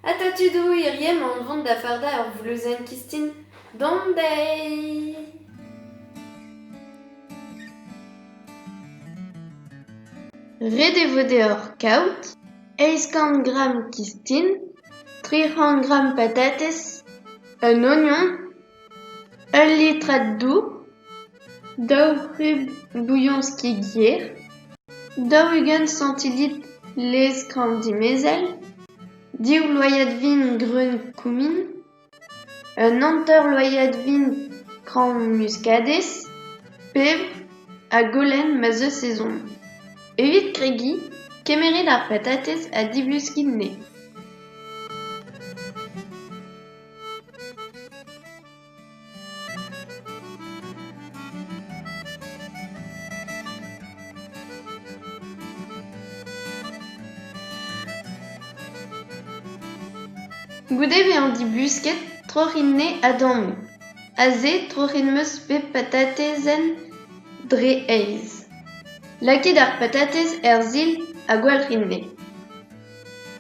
Ata tudoù irienn on vont da fardañ ur vluzenn kistin dont dezhi. Ret e vo deoc'h kaout eizh kant gramm kistin, tri c'hant gramm patatez, un ognon. Ul litred doù, daou c'hub bouilhonski ger, daou-ugent santillit lez-kramm dimezell, div loyad vin greun koumin, un hanter-loyad vin kramm muskadez, pebr ha golenn ma'z eus ezhomm. Evit kregiñ, kemeret ar patatez ha divluskiñ enne. Goude bezañ dibusket troc'hin-nez ha dammoù, aze troc'hin 'm eus bet patatezenn dre aez. Lakit ar patatez er sil ha gwalc'hin-ne.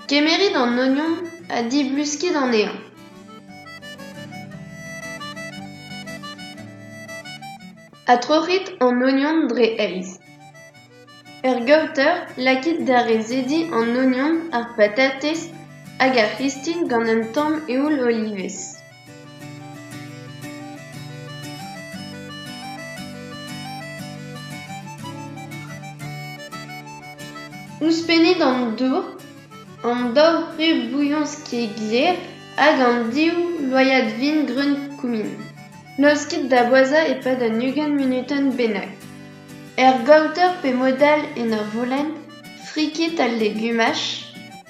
Kemerit an ognon ha dibluskit anezhañ. Adtroc'hit an ognon dre aez. Er gaoter, lakit da rezediñ an ognon, ar patatez hag ar c'histin gant un tamm eoul olivez. Ouzhpennit an dour, an daou ru bouilhons ket gler hag an div loaiad vin greun kumin. Laoskit da boazhañ e-pad un ugent munutenn bennak. Er gaoter pe mod all en ur volenn, frikit al legumaj.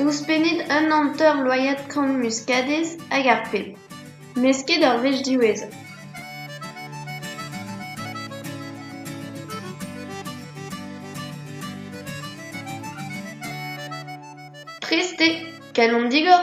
Ouzhpennit un hanter loiad kant muskadez hag ar pep, mesket ur wech diwezhañ. Prest eo, kalon digor.